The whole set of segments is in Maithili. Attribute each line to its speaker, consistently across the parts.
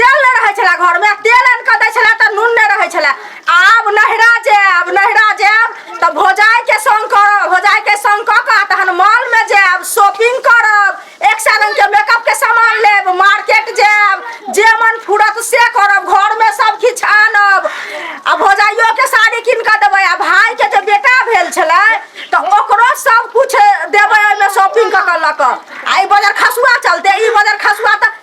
Speaker 1: तेल नहि रहै छलै घरमे तेल आनि कऽ दै छलै तऽ नून नहि रहै छलै आब नहिरा जायब नहिरा जायब तऽ भौजाइके सङ्ग करब भौजाइके सङ्ग कऽ कऽ तहन मॉलमे जायब शॉपिंग करब एक सए रङ्गके मेकअपके सामान लेब मार्केट जायब जे मन फूरत से करब घरमे सब किछु आनब आ भौजाइयोके साड़ी कीन कऽ देबै आ भायके जे बेटा भेल छलै तऽ ओकरो सब किछु देबै ओहिमे शॉपिंग कऽ कऽ लऽ कऽ आ ई बजर खसुआ चलते ई बजर खसुआ तऽ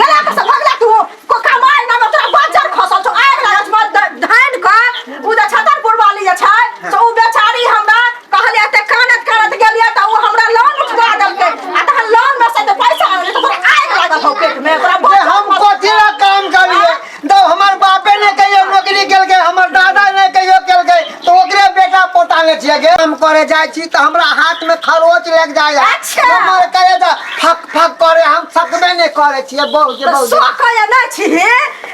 Speaker 1: गला पर से भगला तू को कमाई ना तोरा बाजार खसल छौ आग लागल छौ ध- धान का उ जे छतरपुर वाली जे छै से उ बेचारी हमरा कहलिया ते कानत कानत गेलिया त उ हमरा लोन उठवा देलके आ तहन लोन में से जे पैसा आनलिए त तोरा आग लागल हौ पेट में तोरा जे बाजार हम खसल कथी ला काम करिए तो हमार बापे ने कहियो नौकरी केल गए हमार दादा ने कहियो केल गए तो ओकरे बेटा पोता ने छिए गे हम करे जाय छी त हमरा हाथ में खरोच लग जाय अच्छा। हमर करे जा फक फक करे हम फकबे ने करे छी बहुत जे बहुत सोख या ना छी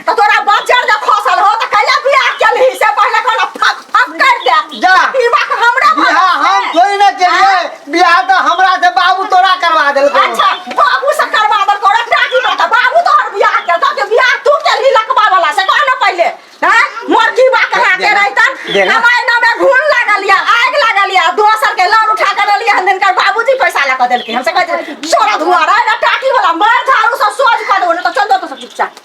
Speaker 1: तो तोरा बच्चा जे फसल हो त कैला बियाह केल ही से पहले कहला फक फक कर दे जा। ई बात हमरा बिहा हम थोड़ी ना केलिए बियाह त हमरा से बाबू तोरा करवा देलको अच्छा बाबू से करवा दर को रखना की बात है? बाबू तो हर बियाह के तो बियाह तू के लिए लकवा वाला से कहना पहले हैं मोरकी बा कहा के रहतन देना। हमारे नाम में घून लागल या आग लागल या दोसर के लड़ उठा कर लिया हम इनकर बाबूजी पैसा ला कर देलके हमसे कहते सोरा धुआरा ना टाकी वाला मार झाड़ू सब सोच कर दो ना तो चल दो तो सब चुपचाप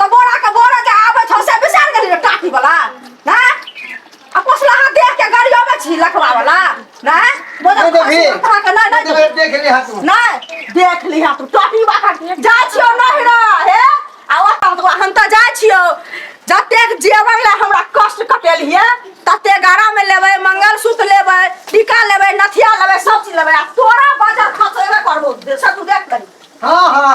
Speaker 1: त बोरा के बोरा जे आबै छौ से बिसार गेली रे टाटी वाला ना आ पोसला हाथ देख के गाड़ी आबै छी लखवा वाला ना बोरा नहीं देखी। खा के ना ना देख देख ले हाथ में नहीं देख लिहा तू टाटी बाखा जा छियो नहीं रे हे आ ओता तो हम त जा छियो जते जेवन ले हमरा कष्ट कटेल हिए तते गारा में लेबै मंगलसूत्र लेबै टीका लेबै नथिया लेबै सब चीज लेबै आ तोरा बजत खसोबे करबो से तू देख लही हां हां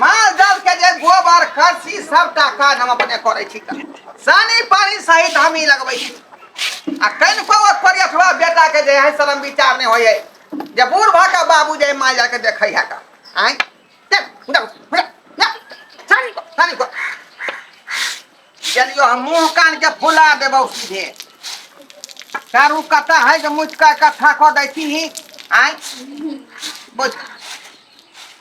Speaker 1: माल जाल के जे गोबर करसी सबटा काज हम अपने करै छी तऽ सानी पानी सहित हम ही लगबै छी आ कनि को ओकरी अथवा बेटा के जे है शरम विचार नहि होय है जे बूढ़ भऽ कऽ बाबू जे माल जाल के देखै है का आँय चल, उधर, उधर, जा, सानी को, सानी को। गेलियो हम मुँह कान के फुला देबौ सीधे चारू कथा है जे मुझका कथा कऽ दै छी आँय बुझ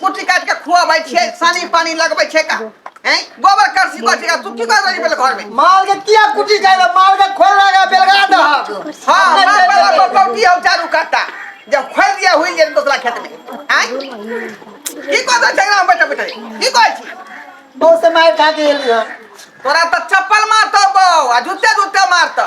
Speaker 1: कुटी काट के खुआबै छियै सानी पानी लगबै छै का हैं गोबर करसी को छै का तू की कर रही बेल घर में माल के किया कुटी जाए माल के खोल लगा बेलगा दो हां मार वाला को कौटी हम चारू काटा जब खोल दिया हुई जे दोसरा खेत में हैं की को तो झगड़ा बैठे बैठे की को छी बहुत से मार खा के एलियो तोरा तो चप्पल मारतो बो आ जूते जूते मारतो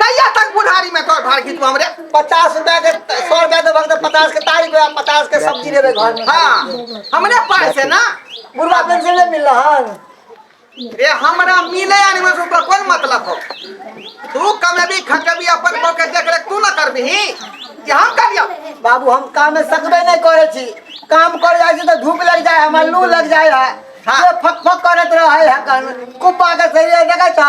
Speaker 1: कहिया तक बुढ़ारी में तोर भाड़ खींचबो हमरे पचास रुपया के सौ रुपया देबो तो पचास के तारीख में पचास के सब्जी देबे घर में हाँ हमरे पास है ना बुढ़वा पेंशन नहीं मिल रहा रे हमरा मिले यानी में ओकर कोन मतलब हो तू कमेबी खटबी अपन को के देख रे तू ना करबी कि हम कर लियो बाबू हम काम में सकबे नहीं करे छी काम कर जाए छी तो धूप लग जाए हमार लू लग जाए है हाँ। ये फक फक करत रहे है कान कुप्पा के सरिया देखै छ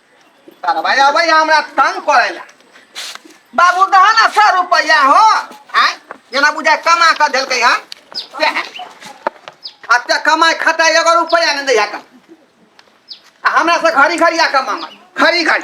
Speaker 1: करवाया भैया हमरा तंग करेला बाबू दहा ना सौ रुपया हो आय जेना बुझाय कमा के देलकै हन सएह। आ ते कमाय खाता एगो रुपया नहि दैया कम आ हमरा से घड़ी घड़ी आ कमा घड़ी घड़ी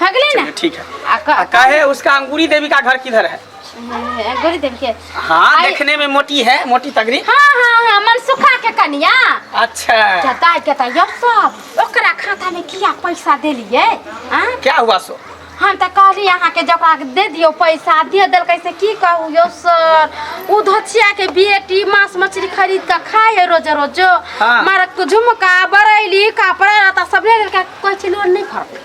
Speaker 1: हो गेलै ना ठीक है आ क- आ कहे उसका अंगूरी देवी का घर किधर है गोरी देवी के हाँ आई- देखने में मोटी है मोटी तगड़ी हाँ हाँ हाँ मनसुखा के कनिया अच्छा जताय के त यो सब ओकरा खाता में किया पैसा देलिए आ क्या हुआ सो हम त कहली अहाँ के जकरा के दे दियो पैसा दे देल कैसे की कहू यो सर उ धचिया के बेटी मांस मछली खरीद के खाए है रोज रोज हाँ। मारक झुमका बरैली कपड़ा रहता सब ले लेके कोई चीज लोड नहीं फरते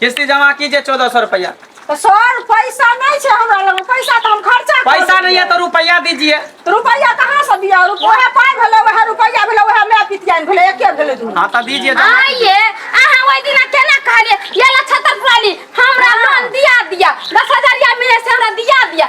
Speaker 1: किस्ती जमा कीजिए चौदह सौ रुपया तो सर पैसा नहीं है हमरा लग पैसा तो हम खर्चा कर पैसा नहीं है देलियै। तो रुपया दीजिए तो रुपया कहाँ से दिया वह पाई भेलो वह रुपया भेलो वह मैं पितियान भेलो एके भेलो दुनू हाँ तो दीजिए जमा कीजिए। आइए अहाँ ओहि दिना केना कहलिए ये ला छतर पुरानी हमरा लोन दिया दिया दस हजारिया मिले से हमरा दिया दिया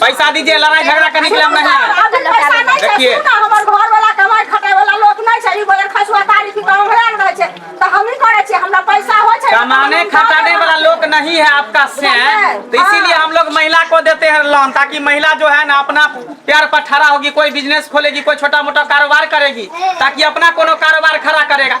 Speaker 1: पैसा दीजिए लड़ाई झगड़ा करने के लिए हम नहीं आए। अभी पैसा नहीं छै, देखिए। तू ना हमर घरवला कमाइ खटाइवला लोक नहि छै, ई बजर खसुआ तारी की काम हमरा लग रहै छै, तऽ हमही करै छियै, हमरा पैसा होइ छै, कमाने हम काम खटाने करब। वाला लोग नहीं है आपका सैन तो इसीलिए हम लोग महिला को देते हैं लोन ताकि महिला जो है ना अपना प्यार पर ठहरा होगी कोई बिजनेस खोलेगी कोई छोटा मोटा कारोबार करेगी ताकि अपना कोनो कारोबार खड़ा करेगा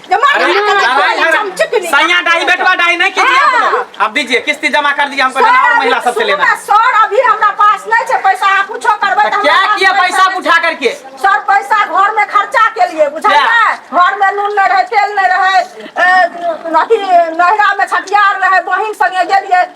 Speaker 1: सैया डाई बेटवा डाई नहीं कीजिए आप लोग। अब दीजिए किस्ती जमा कर दीजिए हमको लेना और महिला सबसे लेना है। सर अभी हमरा पास नहीं छै पैसा आप कुछो करबै तो क्या किया पैसा उठा करके सर पैसा घर में खर्चा के लिए बुझलियै क्या? घर में नून नहीं रहे तेल नहीं रहे अ, अथी नहिरा में छठियार रहे बहिन संगे गेलियै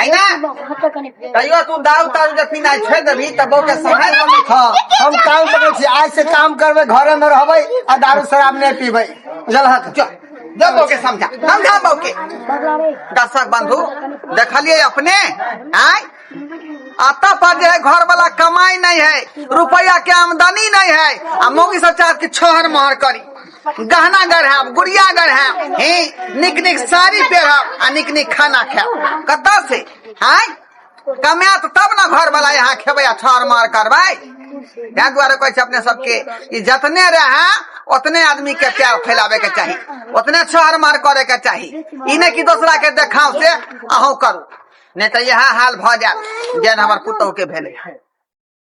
Speaker 1: आई ना कहियो तू दाऊ ताऊ के पीना छोड़ देबी त बो के समय न में खा हम काम करे छी आज से काम करबे घरे में रहबे आ दारू शराब नहीं पीबे बुझल हक जो जो बो के समझा समझा बो के दर्शक बंधु देखलिए अपने आय आता पर जो है घर वाला कमाई नहीं है रुपया के आमदनी नहीं है आ मोगी सब चाहत कि छोहर मोहर करी गहना गढ़ाब गुड़िया गढ़ाब हे निक निक साड़ी पहरब आ निक निक खाना खायब कत से आय कमात तब ने घर वाला यहाँ खेबै आ ठहर मार करबै ताहि दुआरे कहै छै अपने सबके ई जतने रहे ओतने आदमी के प्यार फैलाबे के चाही ओतने छहर मार करे के चाही ई नहि कि दोसरा के देखाव से अहूँ करू नहि तऽ इएह हाल भऽ जायत जेहन हमर पुतहु के भेलै